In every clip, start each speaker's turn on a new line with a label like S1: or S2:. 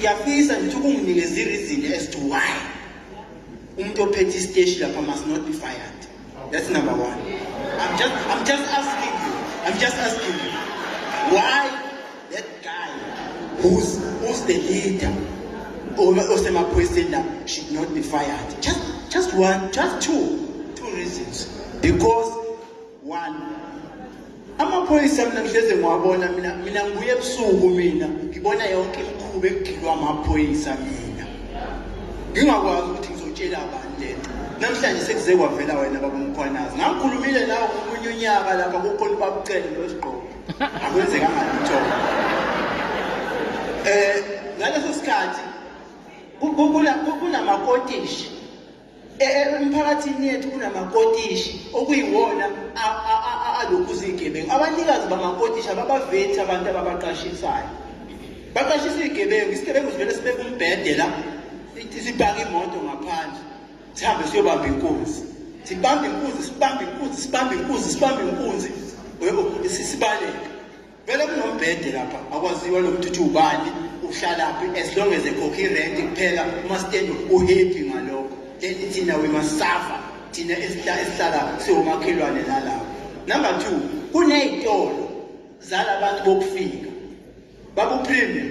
S1: angiyafisa ngithi ukunginikeza i-reason as to why umuntu ophethe isiteshi lapha must not be fired that's number one i'm just, I'm just asking you i'm just asking you why that guy who's, who's the leader osemaphoyiseni la should not be fired just, just one just two two reasons because one amaphoyisa mina ngihleze ngiwabona mina mina ngibuye ebusuku mina ngibona yonke imikhuba ekugilwa amaphoyisa mina ngingakwazi ukuthi ngizotshela abantu lento namhlanje sekuze kwavela wena babumkhwanazi ngakhulumile nawo ngomunye unyaka lapha kukhona ubabucele nosigqoko akwenzekanga lutho um eh, ngaleso sikhathi kunamakotishi emphakathini yethu kunamakotishi okuyiwona alokhu zigebengu abanikazi bamakotishi ababavethi abantu ababaqashisayo baqashisa izigebengu isigebengu sivele sibeke umbhede la sibhake imoto ngaphandle sihambe siyobamba inkunzi sibambe inkunzi sibambe inkunzi sibambe inkunzi sibambe inkunzi sibaleke Vele kunombhede lapha akwaziwa nokuthi uthi ubani uhlalaphi as long as ekhokha irent kuphela umasitendo uhappy ngalokho then thina we must suffer thina esihlala siwomakhelwane nalapho number two kuney'tolo zalabantu bokufika babupremium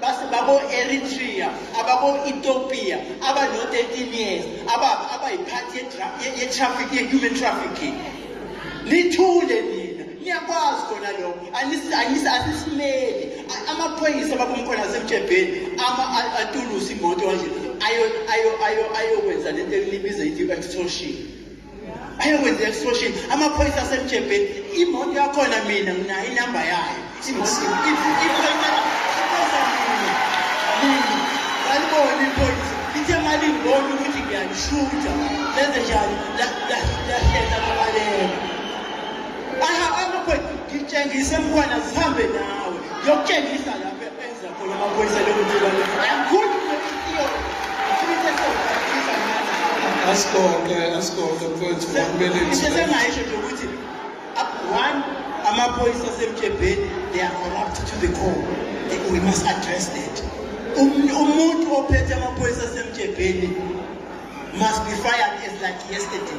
S1: base babo-eritrea ababo-ethiopia abano-13 years ababa abayiphathi ye-traffic ye-human trafficking nithule nina niyakwazi kona lokho asisimeli amaphoyisa babomkhona asemtshebheni atulusa imoto kanje ayokwenza le nto elibiza ithi i-extortion ayokwenza extortion amaphoyisa asemjebheni imoto yakhona mina nginayo inamba yayo aliboni iphoyisa lithe malingibona ukuthi ngiyalishutha lenze njani lahlehla babaleka amaphoyisa ngitshengise mntwana zihambe nawe yokutshengisa lapho
S2: asibonge asibonge mfowethu kumele sengaisho nje ukuthi
S1: one amaphoyisa asemjebheni they are corrupt to the core we must address that umuntu ophethe amaphoyisa asemjebheni must be fired as like yesterday